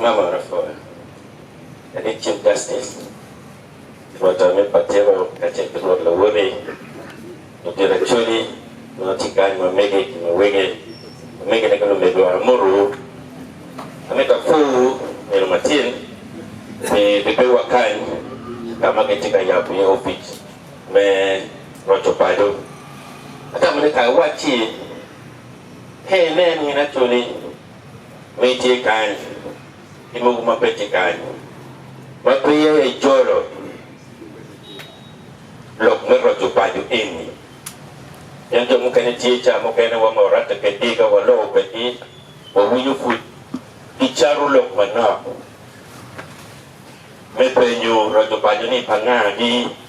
Nga ma Rafael? En aye Chief Justice, Rwot Amir Patewo kacel ki Rwot Lawoti, Lubira Acholi, ma tye kany, ma mege ki ma wege, omegine ki lumegiwa. Amotowu. Amito apwowu nino matin pi bedowa kany ka ma kitye ka yabo iye opic me roco bado. Atamo ni kara wacci, Hey, nen, min Acholi! ma itye kany ki mogo ma pe tye kany ma peya ijolo lok me roco paco eni. Pien jo mukene tye ca mukene wa ma waratte kwedgi ka waloko kwedgi wawinyo pud gicato lok manok me penyo roco paco ni pa nga gi.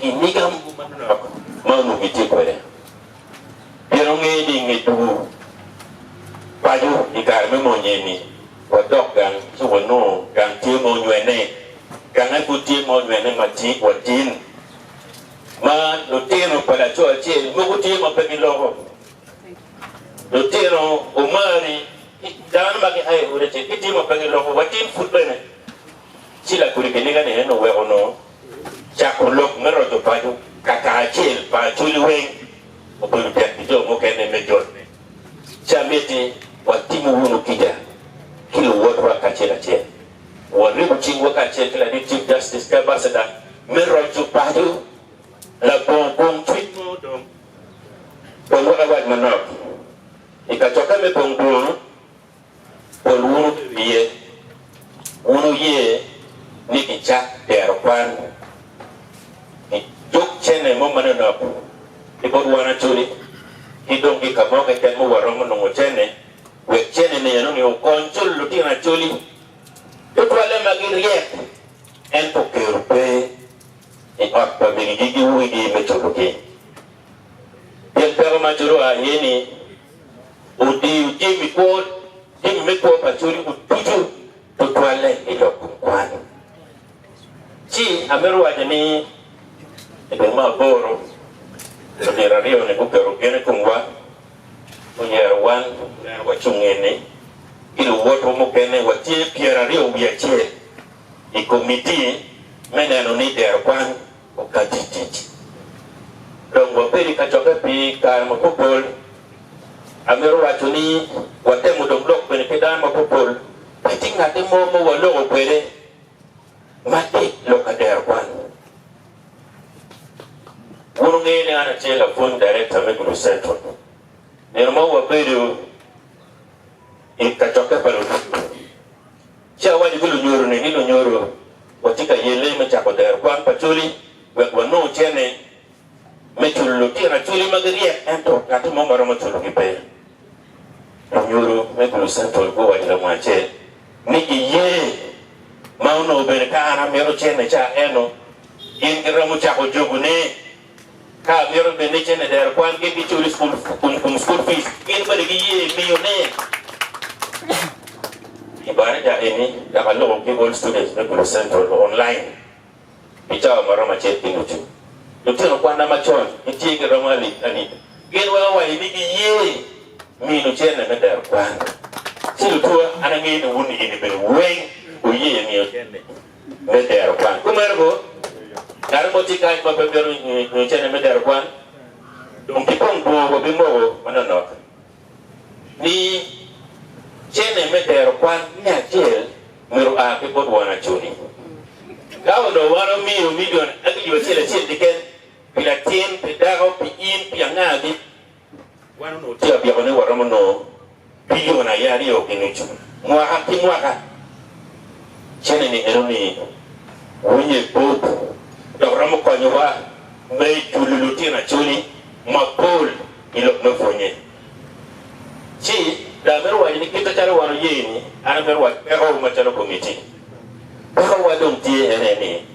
Pi mica mogo manok ma onongo gitye kwede, pien ongeyo ni i nge tugo paco i kare me mony eni, wadok gang ci wanongo gang tye ma onywene. Gang aye pud tye ma onywene matin, ma lutino pa laco acel mogo tye ma pe giloko. Lutino omari ki dano ma gia i ot acel gitye ma pe giloko, watin pud bene. Ci lakodi kiniga-ni en oweko nongo cako lok me roco paco kakacel pa Acholi weng obedo tek pi jo mukene me jone. Ci amyet ni watimu wunu kica ki luwotwa kacel acel. Waribu cingwa kacel ki ladit Chief Justice ki Abasada me roco paco labongo bong cwiny mo dong. Dong wek awac manok, i kacokke me bong dwongo Pol wunu ki wiye, wun wuye ni gicak dero kwan i dog cene mo ma nonok ki bot wan Acholi, ki dong ki ka mo keken ma waromo nongo cene, wek cene meno-ni okony culo lutino Acholi, tutwalle ma giryek, ento kero pe i ot pa minigi ki wigi me culogi. Pien peko ma Acholi oa iye-ni, odiyo jami kwo, jami me kwo pa coco ducu tutwalle i lok kom kwano. Ci amito waco ni i dwe me aboro, lutit aryo-ni guketo gen i komwa, guyero wan wek wacung eni ki luwotwa mukene. Watye pyeraryo wiye acel i komiti me neno ni dero kwan Wakati i tic. Dong wabedo i kacokke pi kare mapoppol. Amito waco ni watemo dong lok bene ki dano mapoppol. Pe tye ngatti mo ma waloko kwede ma tit lok ka dero kwan. Wun wungeyo ni an atye lapwony darekta me Gulu Central. Nino mo wabedo i kacokke pa lulim. Ci awaco ki lunyodo-ni ni, 'Lunyodo, watye ka yelle me cako dero kwan pa coli wek wanong cene me culo lutina coli ma giryek ento ngatti mo ma romo culogi pe. Lunyodo me Gulu Central guwaco lamua acel ni giye ma onongo bene ka an amito cene ca eno gin giromo cako jogo ne. Ka amyero bed ni cene dero kwan gin giculo i school kom school fees gin bene giye miyo ne i baraja eni dok aloko ki all students me Gulu Central o online pi cawa ma romo acel ki nucu. Lutino kwana macon gitye gi romo alip alip gin weng awayo ni giye minu cene me dero kwan. Ci lutuwa an angeyo ni wun i eni bene weng wuye miyo cene. me dero kwan. Kumeno bo, kare mo tye kac ma pe bino nyo cene me dero kwan, dong ki kong dwongo wa bimoko manonok. Mi cene me dero kwan me acel myero oa ki bot won acuni. Ka onongo wan omiyo milion aryo acel acel keken pi latin, pi dako, pi in, pi angagi, Wan onongo tye ka byeko ni waromo nongo bilion aye aryo ki nucu mwaka ki mwaka. Cene-ni en omiyo winye bot dok romo konyowa me julu lutino Acholi mapol i lok me pwonye. Ci dong amito waco ni kite calo wan oye ni an amito wac pekowu macalo komitti, pekowa dong tye ene ni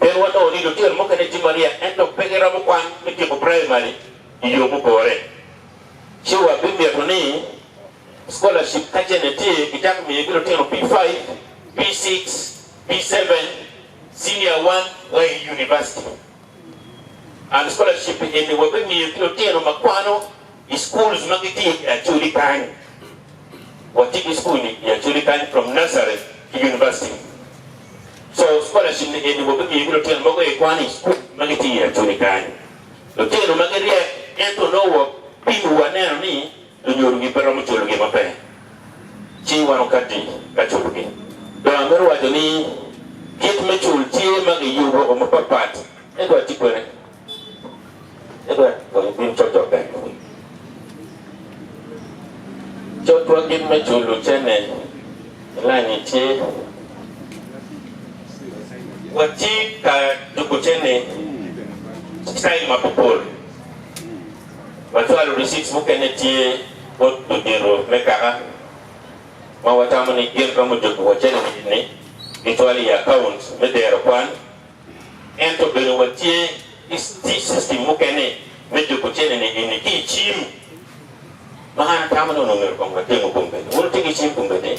Pien wanongo ni lutino mukene tye maryek ento pe giromo kwan me tyeko praimari i yo mupore, ci wabimito ni skolacip ka cente tye gicak miyogi lutino P-Five, P-Six, P-Seven, Cinia One wa i univaciti. and scholarship eni wabimiyo ki lutino ma kwano i schools ma gitye i Acholi kany. Watye ki school i Acholi kany from nursery to university. So scholarship ni eni wabimiyo ki lutino mogo aye kwano i school ma gitye i Acholi kany. Lutino ma giryek ento nongo wabino waneno ni Lunyodogi pe romo culo gin ma pe ci wan okatti ka culogi. Dong amito waco ni kit me cul tye ma giyubo o mapat pat. Edward ci kwene? Edward onyo bino cocok bene. Cotwa kit me culo cene i lain-nyi tye. Watye ka jubo cene i citail mapol pol. Macwalo risic mukene tye bot ludito me kaka ma watamo ni gin romo jobi wa calic ni gicwalo i akaunt me dero kwan. Ento bene watye ki system mukene me jobo cene-ni eni ki i cim ma an atamo ni onongo myero kong watemu kong bene. Wun wutye ki cim kong bene?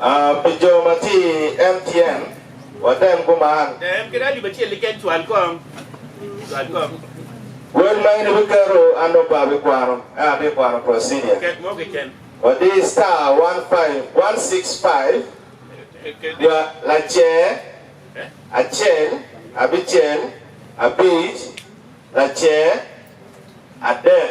A Pi jo matir, MTM, watem kuman. Tem kede alip acel keken. Cwal kom. Cwal kom. Wel ma in ibiketo, an dong pe abikwano. Ento atye ka kwano procedure. Ket mo keken. Wadi star one five one six five dwa lacer acel abicel abic lacer adek.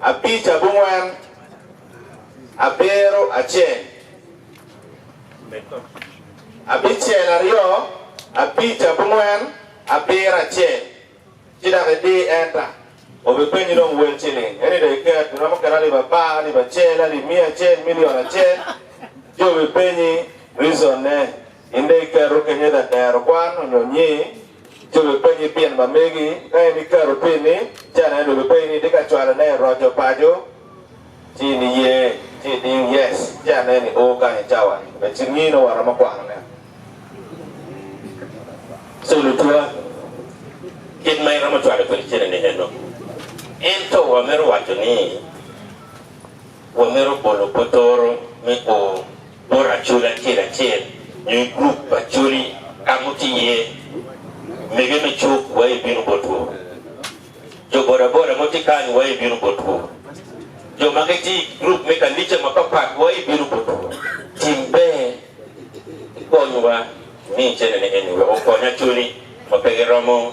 Abic, abongwen, abiro, acel. Abicel, aryo, abic, abongwen, abiro, acel. Ci dok idi enter. Obipenyi dong wel ciling. Eni dong iket. Iromo keto alip apar, alip acel, alip miya acel, milion acel. Ci obipenyi reason ne. Inde iketo kenyo ite dero kwan onyo nyir ci wi penyi pien ma megi. Ka in iketo pini ci aneno dong gipenyi ni itye ka cwalo ne iroco paco ci in iye ci idiyo yes ci aneno i oo kany i cawa ni be ci ngii nongo waromo kwano ne. So lutuwa kit ma iromo cwalo kwede cene ni eno. Ento wa mito waco ni wa mito bolo potoro me oo. Bot acoli acel acel nyo i gurup acoli ka ma wutye iye, mege me cuk wa ebino botwu. Jo bodaboda ma wutye kany wa ebino botwu. Jo ma gitye i gurup me kanica mapapat wa ebino botwu. Tim ber ikonywa, imi cenene eni wek okony acoli ma pe giromo.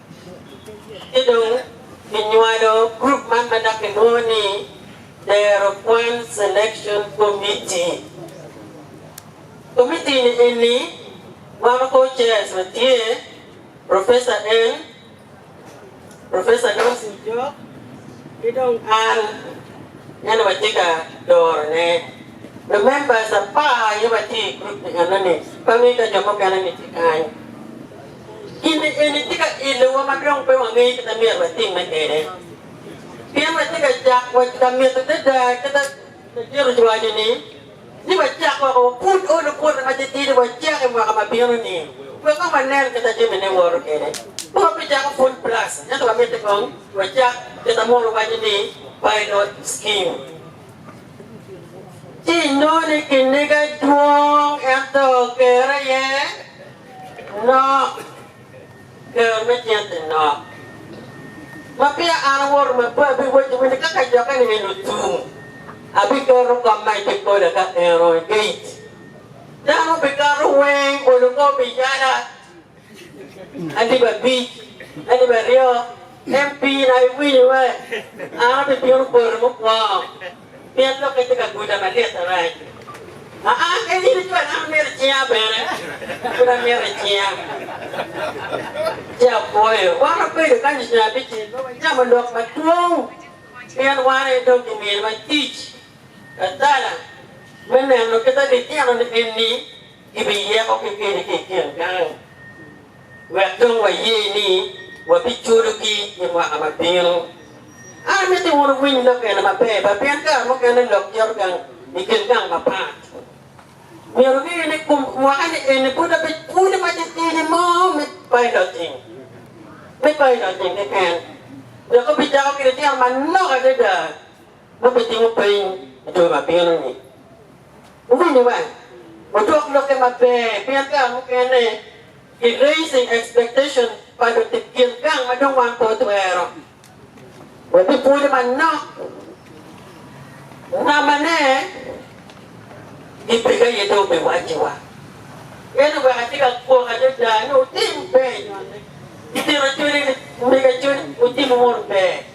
Ci dong kinywalo gurup man ma dok kilwongo ni Dero Kwan Selection Committee. Komitti-ni eni gwoko kor chairs ma tye, Professor Eng, Professor Dawson Jok, ki dong an ma nongo atye ka dorone. Jo members apar aye watye i gurup-pi enoni, pe awic ka jo mukene-ni tye kany. Kine eni tye ka ilowa ma dong pe wangeyo kit ma myero watimme kwede. Pien watye ka cak wa ka mito adada kit ma Petero ocwaco-ni, ni wacak woko wa pud olo bwote matitidi wacak i mwaka ma bino-ni, wek dong wanen kit ma jamine woto kwede. Pe wabicako full blast, ento wamiti kong wacak kit ma Muno waco ni pilot scheme. Ci inongo ni kiniga dwong ento kerre iye. Nok, Kero me cente nok. Ma peya an awoto ma pe abiwacci wene ka kacokke ni en ocung, abiketo kop ma ibikola ka en oo i gate. Dano bikato weng bolo kor pi yala, alip abic, alip aryo, MP na iwinyo ee, an abibino boli mukwongo. Pien lok gitye ka guda malit arac. Aa, ka in ico anaka imito icinga bene, pud amito icinga. Ci apwoyo. Wan wabedo kany ocung abicel ma wacamo lok madwong, pien wan aye dong gimiyowa tic atala me neno kit ma bitino ni enni gibiyeko ki kedi ki i kin gang. wek dong waye ni wabiculogi i mwaka ma bino. An amito wun wuwiny lok eni maber bene pien kare mukene lok cito gang i kin gang mapat. Myero wuge ni kum mwakani eni pud abiculo ma ceceni mo me bailojing, me bailojing keken, dok wubicako ki litino manok adada Wubitimo peny i jami ma bino-ni. Wuwinyo wang, wudwok lokke maber, pien kare mukene ki raising expectation pa lutib gin gang ma dong wan pe watwero. Wabipwonyo manok namane i peka aye dong biwacciwa. Ento wek atye ka kwok adada ni wutim peny, gitino cwiny, miga cwiny, wutimu mono ber.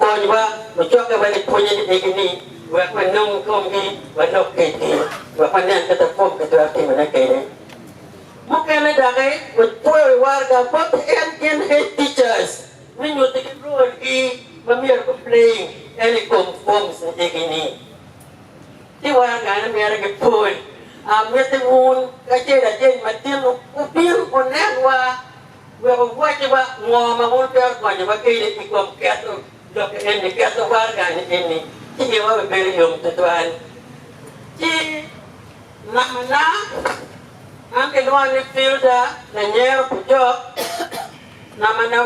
Konywa mucokke ma gipwonye ni egi-ni wek wanong i komgi, wanok kitgi, wek wanen kit ma komgi twero timone kwede. Mukene doki wutweyo i waraga bot en gin head teachers me nyutigi role gi ma myero gu playing en i kom forms ni egi-ni. Ki waraga ni myero gipwony. Amiti wun kacel ajany matino wubin wunenwa. Wek wuwacciwa ngo ma wun twero konyowa kede i kom keto lok eni, keto waraga-ni eni i iwa bene bedo yom twatwal. Ci mamana, an kilwonga ni Filda Lanyero Bujok, namba na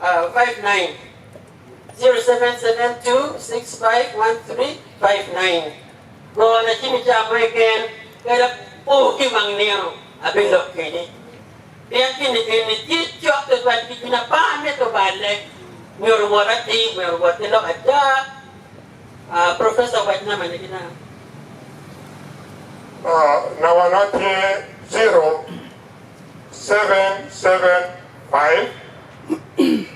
0772651359. 0772651359 Go na cimi ca mo keken kadi apo ki wang nino abilok keni pien gin egini tye cok tutwal ki gin apar me tobale nyo luwot atir omyero owot ki lok ada aa professor wac number ne gina. Number na tye 0775.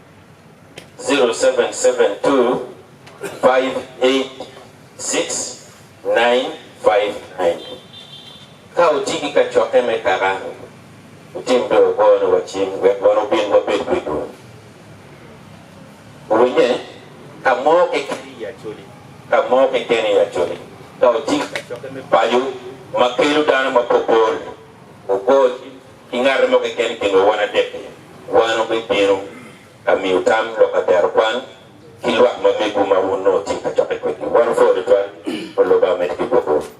0772-586-959. Ka wutye ki kacokke me kaka, wutim bene wugone wa cim wek wan wubin wabed pi dul. Wuwinye? Ka mo keken i Acholi, ka mo keken i Acholi, ka wutye ki kacokke me paco ma kelo dano mapopol, wugo cim. ki ngate mo keken i kinwa wan adek-ki, wan wubibino ka miyo tam lok ka tero kwan ki lwak ma megwu ma wun nongo tye ka cokke kwedgi. Wan wupore tutwal, Wun lobo, amedde ki gwokwu.